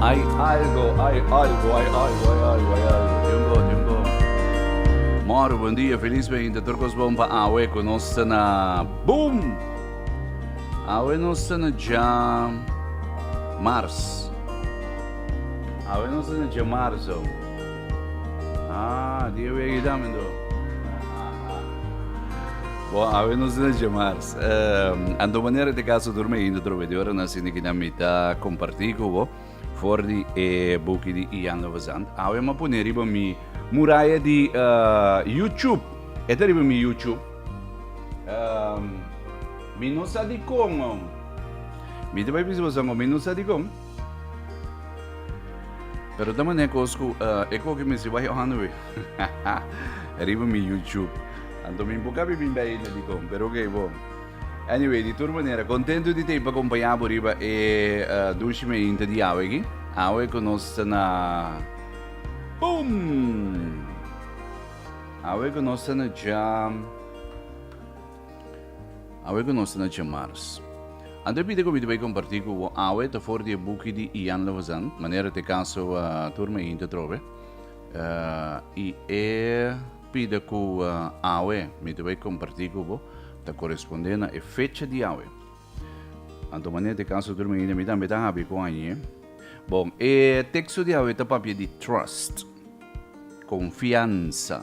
Ai algo, ai algo, ai algo, ai algo, ai algo. Dios bon, Dios bon. Mor, buen dia, feliz veinte, tur cos bon pa awe cu nos ta na boom! Awe nos ta na dja mars. Awe nos ta na dja marzo. Ah, dia weegi tamen do. Bo, awe nos ta na dja mars. Anto manera te caso durmi indo trove de ora na sini kina mita comparti cu bo for di e buki di Ian Lovazand. Awe ma pone riba mi muraya di uh, YouTube. Eta riba mi YouTube. Um, mi no sa di con. Mi te bai bisa bosango, mi no sa di con. Pero ta mané kos ku e koki mi si wai on we. Riba mi YouTube. Anto mi buka bi bin bai na dikon, pero oké bo. Anyway, di tur manera, kontento di te pa kompanya bo riba e uh, dushi me inta di awe ki. Awe ku nos ta na Boom! Awe ku nos ta na jam. Awe ku nos ta na Djemars. Anto e pidi ku mi ta bai kompartí ku bo awe ta for di e buki di Ian Lovazan, Manera t'e kaso a tur mei hinter trobe. I e pida ku awe mi ta bai kompartí ku bo ta korespondé na e fecha di awe. Anto manera t'e kaso a tur mei hinter mi tambe ta habi ku añe. Bon, e teksto di awe ta papia di trust, konfiansa.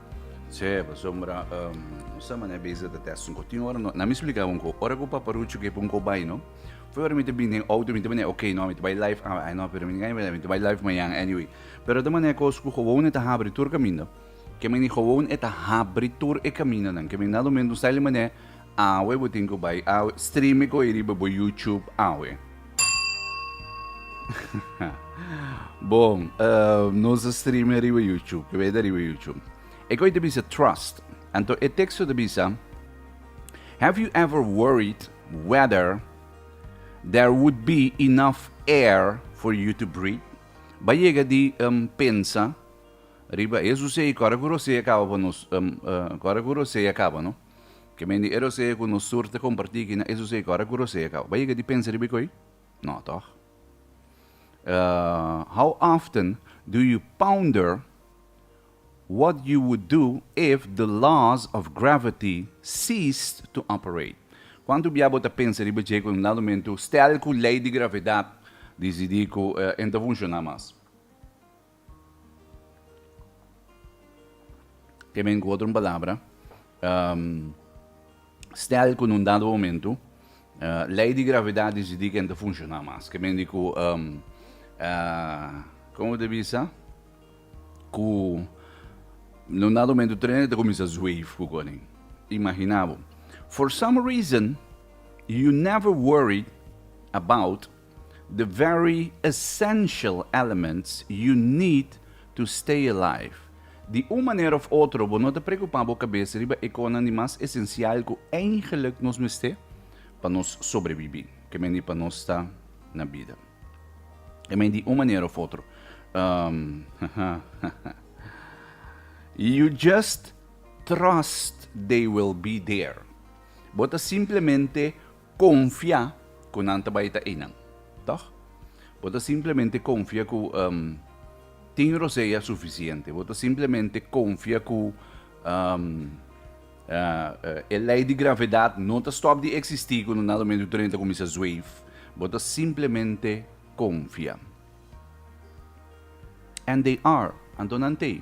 Sí, pasobra um no sa manera beza ta test un kotin ora. Nan mi splika bo un ko. Ora ku Paparuchu ke pon ko bai, no? Foi ora mi te bini den outo, mi te manera, ok, no, mi te bai live awe. Ai, no, pero mi gaña bida, mi te bai live mañan, anyway. Pero ta manera kos ku Gobon e ta habri tur kaminda. Ke men di Gobon e ta habri tur e kamindanan. Ke men na domingo sa el e manera Awe bo tin ku bai awe streame ko e riba bo YouTube awe. Bon, ehm, nos a streame riba YouTube, ke beta riba YouTube. E koi ta bisa trust. Anto e teksto ta bisa Have you ever worried whether there would be enough air for you to breathe? Bai yega di um, pensa riba eso sei kora ku rosei akaba pa nos, um, uh, kora ku rosei akaba, no? Ke men di e rosea ku nos sur ta kompartí aki na esusei kòrda ku rosea kaba. Bai yega di pensa riba ikoi? Nò tòg. How often do you ponder what you would do if the laws of gravity ceased to operate? Kuantu bia bo ta pensa riba dje ku un dado momentu stèl ku lei di gravedat disidí ku e no ta funshoná mas? Te men ku otro un palabra, stèl ku na un dado momentu lei di gravidat disidí ke no ta funshoná mas. Ke men di ku, komo bo ta bisa, ku na un dado momentu trene ta kuminsá zweef ku konen. Imaginá bo, for some reason you never worried about The very essential elements you need to stay alive. Di un manera of otro bo no ta preocupa bo cabes riba e conan di mas esencial cu eingelijk nos mester pa nos sobrebibi, ke men di pa nos ta na bida. I men di un manera of otro um you just trust they will be there. Bo ta simplemente konfia ku nan ta bai ta einan. Tòg? Bo ta simplemente konfia ku tin rosé ya sufisiente. Bo ta simplemente konfia ku e lei di gravedat no ta stòp di eksistí ku nan lo mentu tren ta kuminsá zweif. Bo ta simplemente konfia. And they are, anto nan t'ei.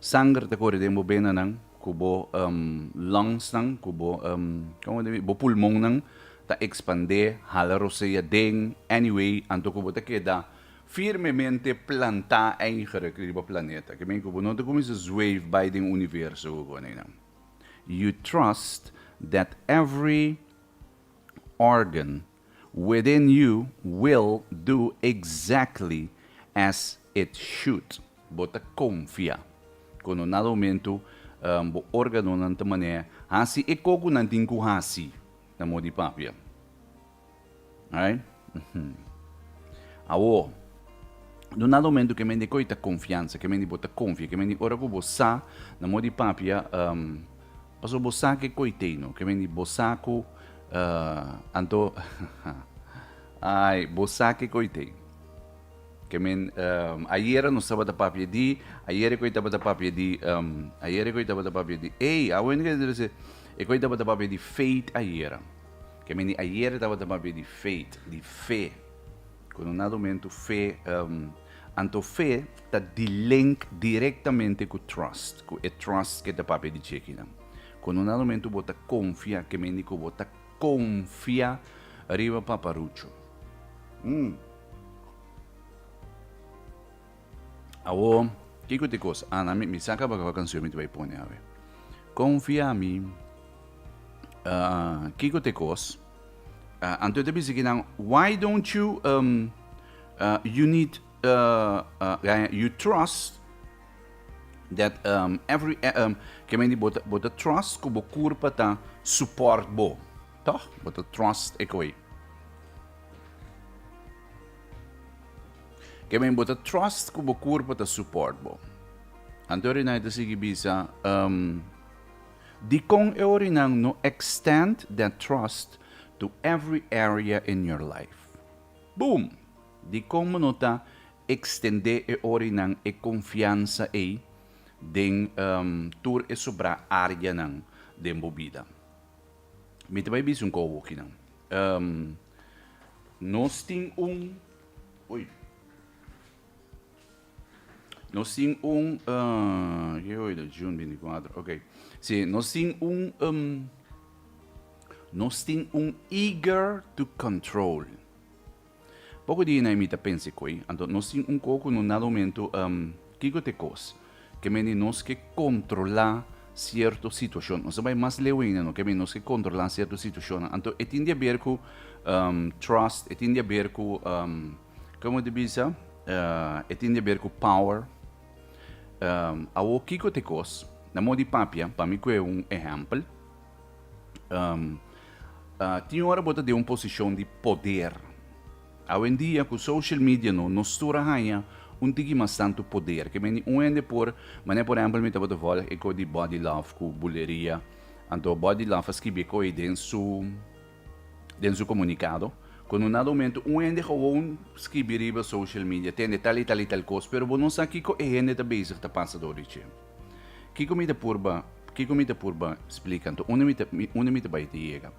Sanger ta kore den bo benanan ku bo longsnan ku bo komo di bo pulmonnan ta ekspandé hala rosé aden anyway anto ku bo ta keda firmemente plantá eiger riba planeta ke men ku bo no ta kuminsa zweef bai den universo ku kone nan you trust that every organ Within you will do exactly as it should. Bo ta konfia ku no na rumentu bo organonan ta manera hasi e ko ku nan tin ku hasi na mo di papia. Right? Awor, no na rumentu ke men di koi ta konfiansa, ke men di bo ta konfia, ke men di ora ku bo sa na mo di papia Paso bo sa ke koiteino ke men di bo sa ku uh, anto ai bo sa ke koiteino ke men um, ayera nos tabata papia di ayere koi tabata papia di um, ayere koi tabata papia di ei awen ke se e koi tabata papia di faith ayera ke men di ayere tabata papia di faith di fe Ku no nado mentu fe, anto fe ta di link direktamente ku trust, ku e trust ke ta papia di chekinan. Ku no nado mentu bo ta konfia, ke mendi ku bo ta konfia riba paparuchu. Umm. Awo, kiko ta e kos? Ana, mi, mi sa kaba kaba kansion mi ta bai pone, awe. Konfia mi, ah, kiko ta e kos? Anto e ta bisa ki nan, Why don't you um, uh, you need uh, uh, you trust that um, every eh, um, que me bota bota trust ku bo kurpa ta support bo. Toch? Bota trust e koi. Que me bota trust ku bo kurpa ta support bo. Antori na ita sigi bisa um, Dikon e orinan no extend that trust to every area in your life? Boom! Dikon bo no ta ekstendé e orinan e konfiansa ei den tur e sobrá áreanan den bo bida? Mi ta bai bisa un kouwo kinan. Nos tin un. Ui. Nos tin un uh, ke hoy da June 24. Ok. Si, nos tin un um, nos tin un eager to control. Poco di na imita pense koi, anto nos tin un coco no nada momento um, kiko te kos. Ke meni nos ke controla cierto situacion. Nos bai mas leuina no, ke meni nos ke controla cierto situacion. Anto e tin dia ber ku um, trust, e tin dia ber ku um, Como te bisa, e tin deber cu power. Awo kico t'e cos? Na mo di papia, pa mi cu e un ehempel. Tin ora bo ta den un posicion di poder. Awendia cu social media no, nos tur a haña un tiki mas tantu poder. Ke meni un hende por, manera por ehempel mi tabata volg e co di Body Love cu Buleria, anto Body Love a skibi e co ey den su. den su comunicado, cu no na domento un hende gewoon scribi riba social media tende tal y tal y tal cos, pero bo no sa kico e hende ta bezig ta pasa dor di dje. Kico mi ta purba, kico mi ta purba splica anto? Unda mi ta, unda mi ta bay ta yega?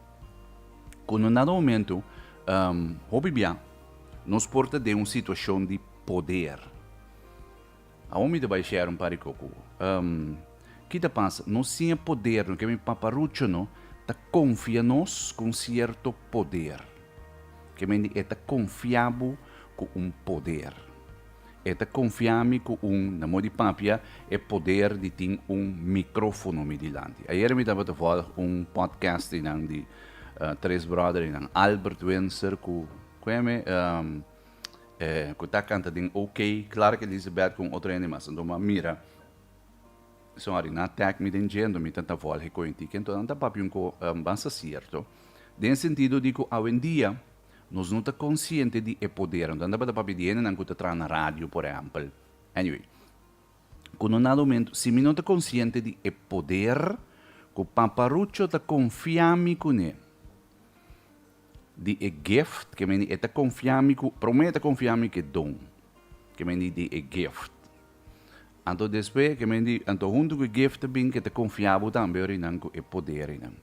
Cu no na domento, hopi bia, nos por ta den un situacion di poder. Aun mi ta bai share un pari coco. Umm ki ta pasa? Nos tin e poder, no ke mi paparucho no ta confia nos cu un cierto poder. Ke mende e ta confia bo cu un poder. E ta confia mi cu un, na modo di papia, e poder di tin un microfono mi dilanti. Ayer mi tabata volg un podcast di nan di tres brother di nan Albert Windsor cu cu eme umm ku ta kanta den OK, Clark Elizabeth ku un otro hende mas. Anto m'a mira, son ari nan tag mi den dje, anto mi ta ta vòl hekoi un tiki. Anto nan ta papia un ko bansa sierto, den sentido di ku awendia nos no ta konsiente di e poder. Anto nan tabata papia di hendenan ku ta traha na radio, por ehèmpel. Anyway, ku no nada humento, si mi no ta konsiente di e poder ku Paparucho ta konfia mi kuné, di e gift ke meni e ta konfia mi ku promé ta konfia mi ku e don ke meni di e gift anto despues ke meni anto huntu ku e gift ta bin ke ta konfia bo tambe ora inan ku e poder inan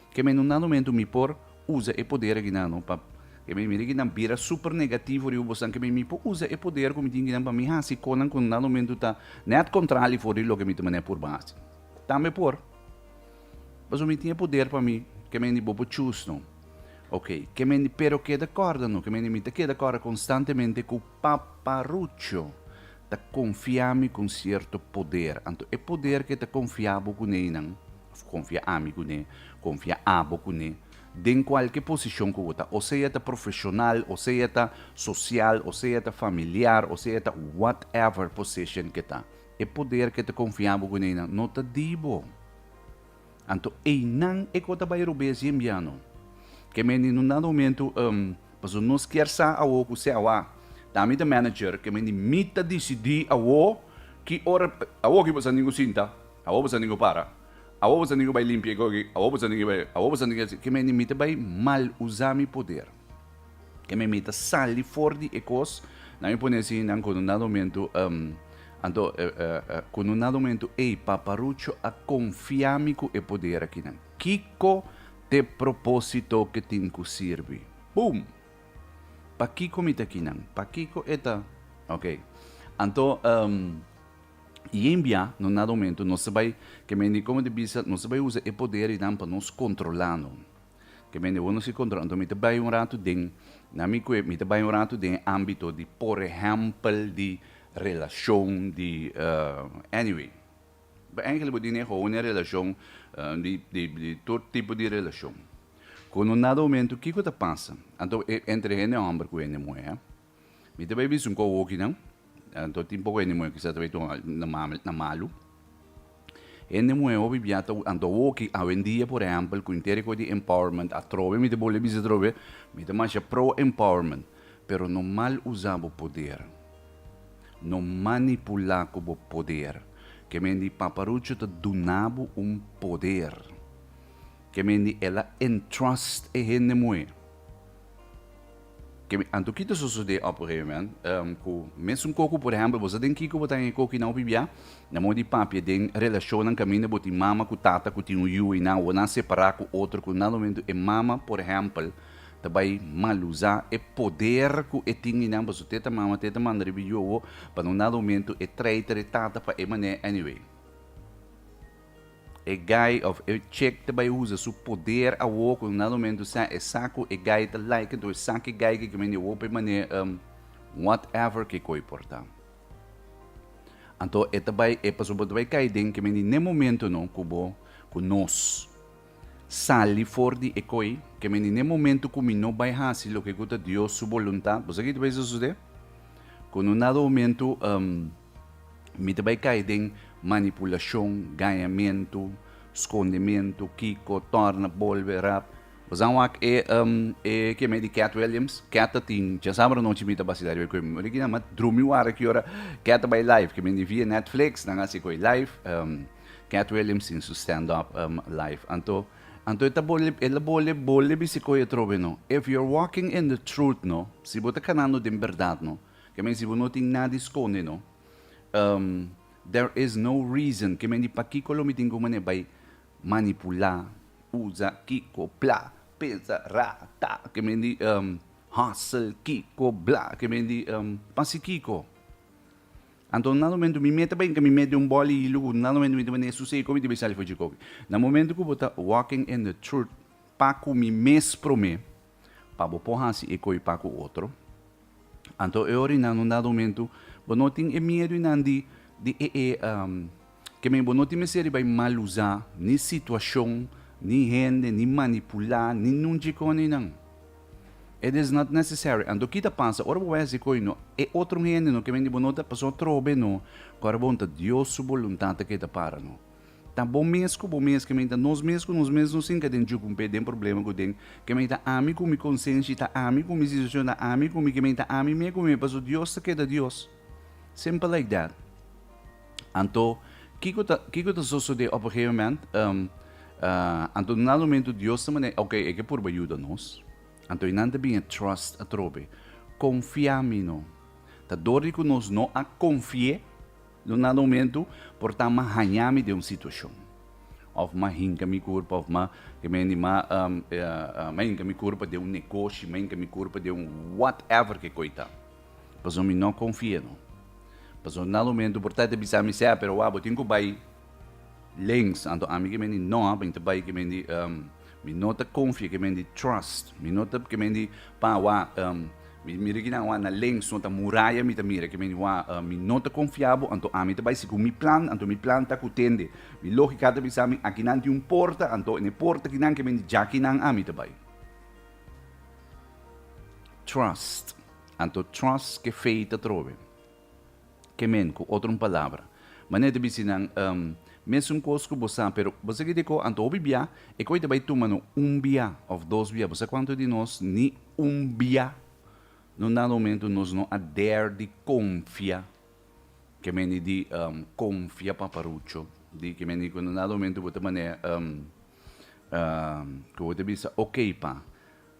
ke meni un nano mentu mi por usa e poder aki nan no pa ke meni mira ki nan bira super negativo riba bosan ke meni mi por usa e poder ku mi tin aki nan pa mi hasi konan ku un nano mentu ta net kontrali for di loke mi ta mane purba hasi tambe por. Paso mi tin e poder pa mi, ke men di bo por choose no. Ok, ke men di pero keda korda no, ke men di mi ta keda korda konstantemente ku paparucho ta konfia mi ku un sierto poder. Anto e poder ke ta konfia bo kuné einan, òf konfia ami kuné, konfia abo kuné, den kualke posishon ku bo ta, o sea ta profeshonal, o sea ta sosial, o sea ta familiar, o sea ta whatever position ke ta. E poder ku e ta konfiá bo gunénan no ta di bo. Anto einan e ku ta bai robé si e mbiano. Ke mende no nada momentu um pasobra nos kier sa awo ku se awa. Ta mi ta manager, ke mende mi ta disidí awo ki ora awo ki bo sa tin ku sinta, awo bo sa tin ku para, awo bo sa tin ku bai limpia e koki, awo bo sa tin ku bai awo bo sa tin ku bai ke mende mi ta bai mal usá mi poder. Ke me mita sali for di e kos, nan mi pone si nan kono na domentu um, anto uh, uh, uh, kono na domentu ei paparucho a konfia mi ku e poder akinan. Kiko t'e propósito ke tin ku sirbi? Boom! Pa kiko mi takinan? Pa kiko e ta? Ok. Anto um, yen bia no na domentu nos ta bai, ke me ni komo ta bisa, nos ta bai usa e poder inan pa nos kontrolano. Ke mende uno si control. Anto mi ta bay un rato den, na mi cuep, mi ta bay un rato den ambito di por ehempel di relacion di anyway. Bo enkele bo di ne houden e relacion di di tur tipo di relacion. Cu un dado momento kico ta pasa? Anto entre hende homber cu hende muher. Mi ta bay bisun cu awokinan, anto tin poco hende muhé cu sa ta bay tuma na malu. Hende muhé hopi bia ta, anto awoki, awendia por ehempel, cu inter e cos di empowerment, atrobe mi ta bole bisa atrobe, mi ta masha pro empowerment, pero no mal usa bo poder, no manipula cu bo poder. Ke men di paparucho ta duna bo un poder, ke men di el a entrust e hende muhé. Ke mi anto kita sosodé òp un emen ku mes un koku, por ehèmpel, bo sa den kiko bo ta haya koku i nan hopi biá? Na moda di papia den relashonnan kaminda bo tin mama ku tata ku tin un yu i nan awor nan separá ku otro ku nan momentu e mama, por ehèmpel, ta bai mal usá e poder ku e tin i nan pasobra teta mama, teta manda riba e yu awor pa nan un dado momentu e traita e tata pa e manera anyway. E guy of e chick ta bai usa su poder awo cu na momento sa e sa cu e guy ta like enton e sa cu e guy ke ke mende hopi mane um what ever kico e por ta. Anto e ta bai e pasobra bo ta bai cay den ke mende n'e momento no cu bo cu nos sali for di e coy ke mende n'e momento cu mi no bai haci loke cu ta Dios su voluntad bo sa kiko ta bai su sucede cu no na do momento um Mi ta bai kai den manipulashon, gañamentu, skondementu, kiko, tòrna, bolbe, rap. Bo sa wak e um, e ke me di Kath Williams? Kath ta tin, dje sabra nochi mi ta basila riba ku e muhé ki na mat drumi wara ki ora Kath ta bai live, ke mi di via Netflix nan hasi ku e live, um, Kath Williams tin su stand up um, live. Anto, anto e ta bole, e la bole, bole bisikoyo trobe no. If you're walking in the truth no, si bo ta kanando den bèrdat no, Ke men si bo no tin nada di skonde no. Um there is no reason ke men di pakiko lo mi tin ku manera bai manipulá, usa, kiko, plá, pensa, ra, ta, ke men di um hustle, kiko, blá, ke men di um pa si kiko. Anto un nada momento mi meta bai mi mete un bòl hilu ku nada momento mi ta manera su seko mi ta bai sali for dje koki. Na momento ku bo ta walking in the truth pa ku mi mes promé. pa bo por hasi e koe pa ku otro. Anto e orinan un dado momentu bo no tin e miedu i nan di di e e ke men bo no tin mester riba e mal usá ni situashon ni hende ni manipulá ni nun djikon i nan. It is not necessary anto ki ta pasa ora bo bai hasi e koe no e otro hende no ke men di bo no ta paso trobe no ku ora bon ta Dios su boluntat ta ke ta para no. Ta bo mes ku bo mes, kemey ta nos mes ku nos mes nos tin ke den juku un pe den problema ku den. Kemey ta ami ku mi konsenshi, ta ami ku mi situashon, ta ami ku mi kemey ta ami mes ku mi paso Dios ta keda Dios. Simpel like that. Anto kiko ta kiko ta sosode op un gegeven moment? anto na nada momento Dios ta manera oke e ke purba yuda nos. Anto e nan ta bin e trust atrobe. Konfia mi no. Ta dor di ku nos no a konfi'é. Lo nan homentu por ta m'a haña mi den un situashon, òf m'a hinka mi kurpa, òf m'a kemendi m'a m'a hinka mi kurpa den un negoshi, m'a hinka mi kurpa den un whatever ke koi ta. Pasobra mi no konfia no. Pasobra nan homentu por ta ta bisa mi, Sea, pero wak, bo tin ku bai. Links, anto ami ke mendi no a beinta bai ke mendi um, mi no ta confia ke mendi trust, mi no ta ke mendi pa wa um, mi mira kinan wa na links no ta muraya mi ta mira ke mendi wa um, mi no ta confia bo anto ami ta bai segun mi plan anto mi plan ta ku tende mi logica ta bisa mi akinan tin un porta anto en e porta kinan ke mendi ja kinan ami ta bai trust anto trust ke fei ta trobe. Ke men, ku otro un palabra. Manera e ta bis'é nan, Um, mesun kos ku bo sa, pero bo sigi di kó, anto hopi biá, e koi ta bai tuma'no un biá òf dos biá. Bo sa kuantu di nos ni un biá no nan rumentu nos no a der di konfia ke men i di um konfia paparucho di ke men i ku no nan rumentu bo ta manera um ku bo ta bisa okey pa.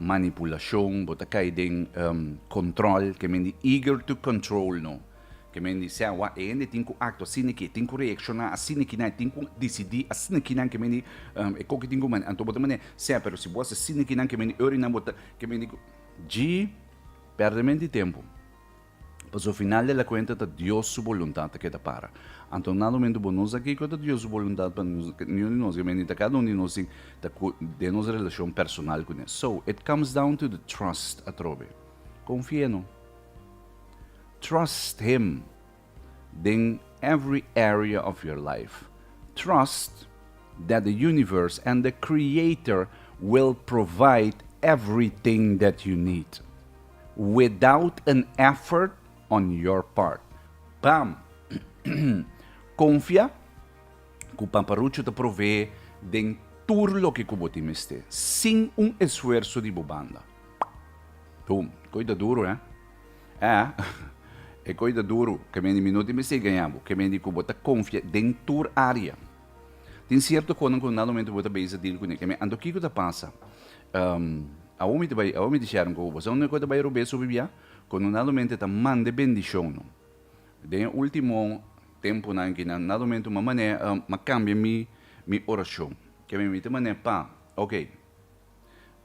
Manipulashon, bo ta kai den control, ke men di eager to control no, ke men di sè wak e hende tin ku actua asina aki, e tin ku reacciona asina aki nan, e tin ku decidi asina aki nan, ke men di e ko ke tin ku mane, anto bo ta mane sè, pero si bo haci asina aki nan, ke men di ora nan bo ta, ke men di ku. Dji, perde men di tempu. Pasobra final di la kuenta ta Dios su boluntat a keda para. Anto nan Domingo bo no sa kiko ta Dios su boluntat pa nos, niun di nos, mente ta kada un di nos tin ta ku den nos relashon personal kuné. So, it comes down to the trust atrobe. Konfi'é no. Trust him den every area of your life. Trust that the universe and the creator will provide everything that you need. without an effort on your part. Pam! Konfia ku Paparucho ta provee den tur loke ku bo tin mester, sin un esfuerso di bo banda. Boom! E koi ta duru, eh? Eh, e koi ta duru. Kende mi no tin mester gaña bo, kende ku bo ta konfia den tur área. Tin sierto konan ku na momento bo ta beza deal kuné kemé anto kiko ta pasa? Um, awo mi ta bai, awo mi ta share un koko boso. Awo ta bai robé subi bia, kono na momento ta mande bendishon no. Den e ultimo temponan ki na momento ma mané, um, ma kambia mi mi orashon. Kemé mi ta mané pa, ok.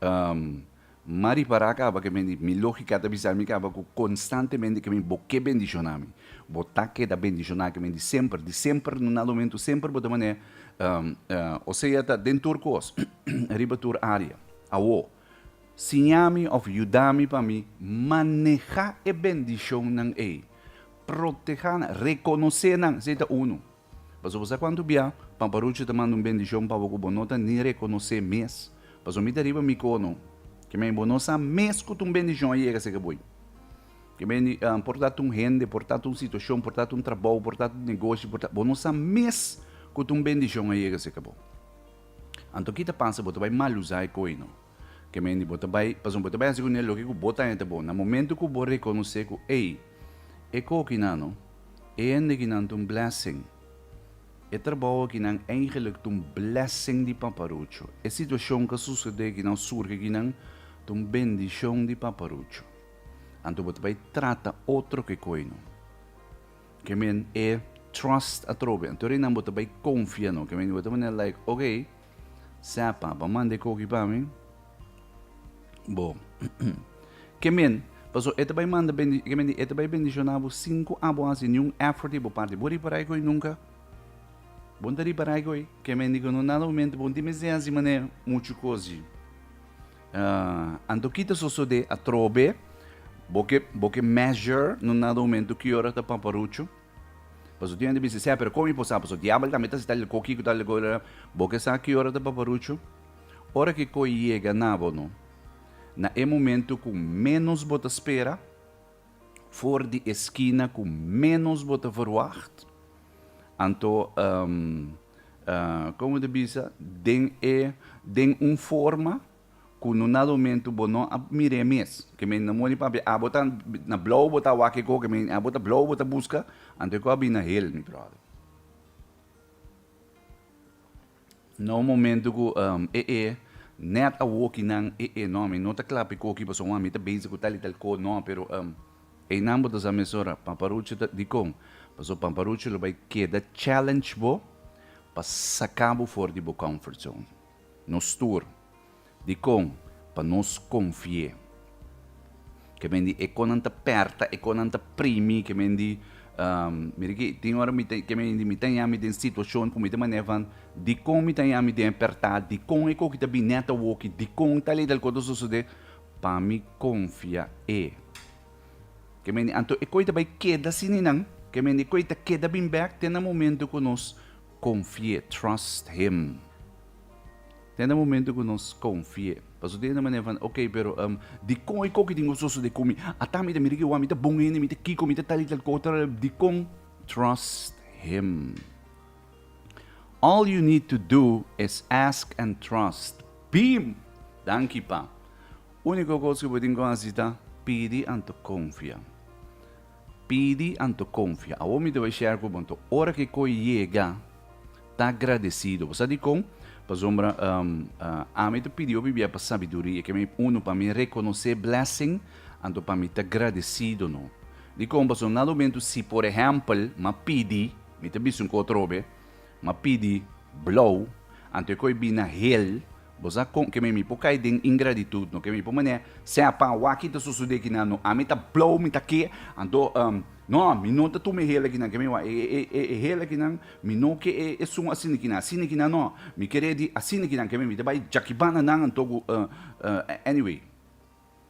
Um, ma ripará caba que mi, mi lógica ta bisami caba cu constantemente que mi bo ke bendicioná mi. Bo ta keda bendicioná ke mi di semper, di semper no na lo mento, semper bo ta manera, um, um, o sea ta den tur cos, riba tur area. Awo, siña mi of yuda mi pa mi maneha e bendicion nan ey, protehá nan, reconoce nan, esey ta uno. Paso bo sa cuanto bia, Papa Rucho ta manda un bendicion pa bo cu bo no ta ni reconoce mes. Paso mi ta riba mi cono. Kemey y bo no sa mes cu ta un bendicion a yega seca boy. Kemey ni, por ta ta un hende, por ta ta un situacion, por ta ta un trabao, por ta ta un negoshi, por ta, bo no sa mes cu ta un bendicion a yega seca bo. Anto ki ta pasa? Bo ta bay maluza e coy no. Ke mendi bo ta bai, pasobra bo ta bai hasi ku ne loke ku bo ta haña ta bon. Na momentu ku bo rekonosé ku, ei, e kokinan no, e hende kinan ta un blessing. E trabou akinan eigenlik ta un blessing di Paparucho. E situashon ku a susedé akinan, surgi akinan, ta un bendishon di Paparucho. Anto bo ta bai trata otro ke koi no. Ke men e trust atrobe. Anto arinan bo ta bai konfia no. Ke mendi bo ta manera like, oke. Sa papa manda e koki pa mi. Bo. Ke men, paso e ta bai manda bendi, ke men di e ta bai bendiciona bo sin ku abo hasi niun effort di bo parti. Bo ripará e goi nunka? Bon ta ripará e goi? Ke men di ku no nada momento bon tin mester hasi mané muchu kosi. Uh, anto kita sosodé atrobe, bo ke, bo ke measure no nada momento ki ora ta paparuchu. Pasobra tin hende bisa esey, pero kon mi por sa? Pasobra diabel tambe ta sita leko kiko ta leko la. Bo ke sa ki ora ta paparuchu? Ora ki kos yega na bo no, na e momento ku ménos bo ta spera, for di e skina ku ménos bo ta verwagt, anto komo ta bisa den e den un forma, ku no na rumentu bo no a mir'é mes ke men na muri papia abo ta na blou bo ta wak kiko ke men abo ta blou bo ta buska anto e kos a bin na hel mi bròder no un momentu ku e e nèt awoki nan e e no mi no ta kla piko ki paso wan mi ta bezi ku tal i tal kos no pero einan bo ta sa mes ora paparuchi ta dikon paso paparuchi lo bai keda challenge bo pa saka bo for di bo comfort zone Nos tur, dikon pa nos konfié? Ke men di e konan ta pèrta, e konan ta primi, ke men di, Mi riki, tin ora mi ta, ke men di, mi ta yami den situashon ku mi ta manera van, dikon mi ta yami den e pèrtá? Dikon e koki ta bini nèt awoki? Dikon tal i tal kos ta sosodé? Pa mi konfia e. Ke men di, anto e koi ta bai keda así ninan? Ke men di, e koi ta keda bin bèk te na momentu ku nos. Konfié, trust Him. Den e momentu ku nos konfié, paso tin e manera van, ok, pero dikon e koki tin ku sosodé ku mi? Ata mi ta mira ki wan, mi ta bon hende, mi ta kiko, mi ta tal i tal kota, dikon? Trust Him. All you need to do is ask and trust. Bim! Danki, Pa. Úniko kos ku bo tin ku hasi ta pidi anto konfia. Pidi anto konfia. Awor mi ta bai share ku bo anto. Ora ku e koi yega, ta agradesido. Bo sa dikon? Pasobra ami ta pidi hopi bia pa sabiduria. Ke mi uno pa mi rekonosé blessing, anto pa mi ta gradesido no. Dikon? Pasobra nan lumentu si por ehèmpel mi a pidi, mi ta bisa un ku atrobe, Ma pidi blou, anto e koi bin na hel, bo sa kon ke me mi por kai den ingraditut, no ke mi por man'e, sea pa waki ta susude kinan, no ami ta blou, mi ta ke, anto um, no, mi no ta tuma e hel akinan, ke mi wak e e e e hel akinan, mi no ke e e sun asina kinan, asina kinan no, mi kere di asina kinan, ke mi mi ta bai Jakibannan anto ku uh uh anyway.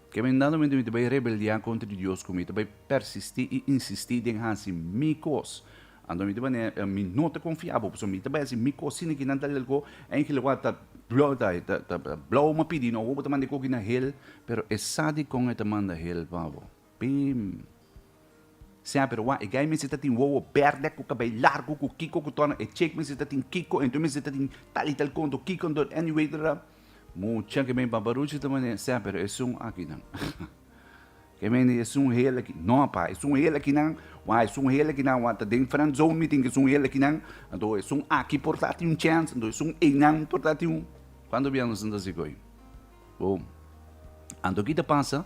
Ke mindadamente mi ta bai rebeldia kontra di Dios ku mi ta bai persistí i insistí den hasi mi kos. Anto mi ta manera e mi no ta konfia bo pasobra mi ta bai hasi mi kos sin kinan ta lelko en ki lugá ta blou ma pidi no bo bo ta manda e koki na hel pero e sa dikon e ta manda hel pa bo. Pim. Sea pero wak, e gay mester ta tin wowo berde cu cabey largo cu kiko cu torna, e chick mester ta tin kiko, entoces mester ta tin tal y tal conto, kiko en dor anyway ta ta. Mucha ke mey baba Ruchi ta mane, sea pero e sun aki nan, ke mey di e sun heel aki, no apa, e sun heel aki nan, wak e sun heel aki nan wak ta den friend zone mi tin ke sun heel aki nan, anto e sun aki por ta tin un chance, anto e sun ey nan por ta tin un, cuanto bia nos a sinti asi goy? Bo, anto ki ta pasa?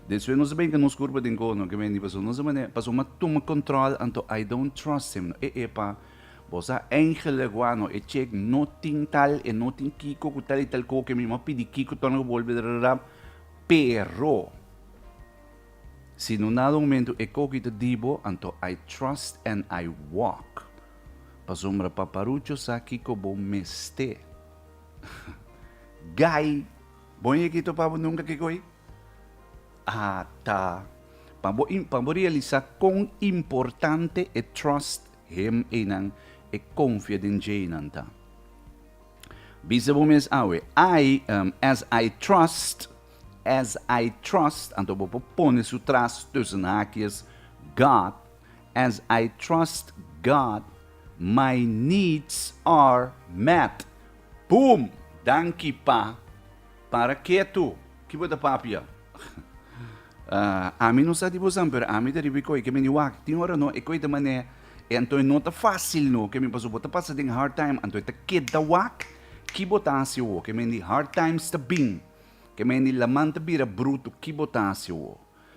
Despues nos a benka nos kurpa den koho, no ke bendi paso nos a manera, paso m'a tuma kontròl, anto I don't trust him. No, e e pa, bos a eingelik wak, no, e chek no tin tal, e no tin kiko ku tal i tal koho ke mi m'a pidi kiko torna ku bolbe drarap, pero si no nada un momentu e koho ki ta di bo, anto I trust and I walk. Pasobra Paparucho sa kiko bo mester. Guy, bo no yeki topabo nunka ki koe? Ata, pa bo pa bo realisa kon importante e trust him eynan, e konfia den djeinan ta. Bisa bo mes awe, I, um, as I trust, as I trust, anto bo por pone su tras tussen hakies, God, as I trust God my needs are met boom danki pa para ketu ki bo ta papia ami no sa di bosan pero ami ta riba ikoi ke mi ni wak tin ora no ikoi ta mane i anto no ta facil no ke mi paso bo ta pasa den hard time anto ta keda wak ki bo ta haci awo ke me di hard times ta bin ke me di laman ta bira bruto ki bo ta haci awo.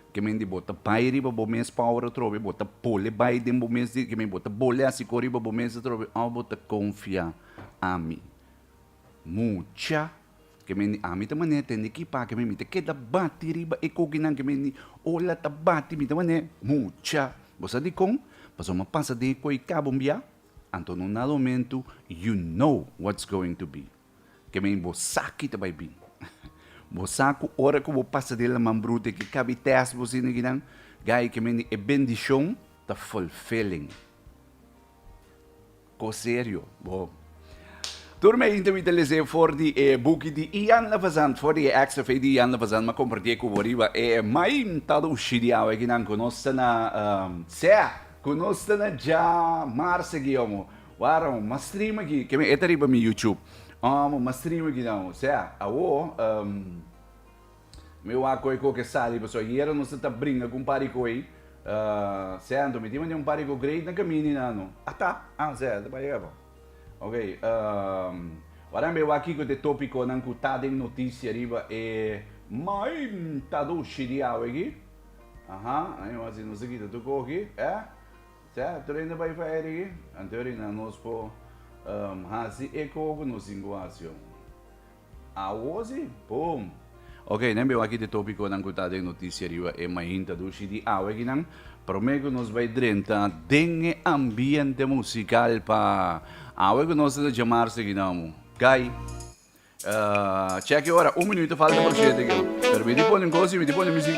Kemi di bo ta bai riba bo mes power atrobe i bo ta pole bai den bo mes di kemi bo ta bole a siko riba bo mes atrobe of bo ta konfia ami mucha kemi di ami ta mane tende ki pa kemi mi ta keda bati riba e kokinan kemi di ola ta bati mi ta mane mucha bo sa dikon pasobra mi a pasa den e koi kabon bia anto un dado mentu you know whats going to be. ke men bo saki ta bai bin. Bo sa ku ora ku bo pasa di laman brute ke kabi tèst bo sinigi nan, gai ke men di e bendishon ta fulfilling. Kos serio, bo. Tur mi yinta mi ta les'é for di e buki di Ian Levazan, for di e èks efekt di Ian Levazan. Mi a kompartié ku bo riba e mai ntado ushi di awe aki nan ku nos ta na sea ku nos ta na dja mar segi omo. Waarom ma streama ki ke mi eta riba mi YouTube? Aarom ma streama ki dan? O sea, awo mi wak koe koke e sali paso ayera nos a ta bringa ku un par di koe, sea anto mi tin mante un par di koe great na kamini nan no. Ata, a sea ta bay aba. Ok, wara mi wak kiko ta e topikonan ku ta den notisia riba e maimtadoshe di awe aki. Aha, a mi wak si nos a kita tur koki, eh? Sea, tur hende bai fa erigi, anteori nan nos por haci eco cu nos inguacion. Awozi, boom! Ok, nan biba aki di e topiconan cu ta den noticia riba e mainta dushi di awe aki nan. Prome cu nos bai drenta den e ambiente musical pa awe cu nos ta djamar Suriname. Gai! Check e ora, un minuto falta por shete aki. Pero mi di pone un cosa y mi di pone music.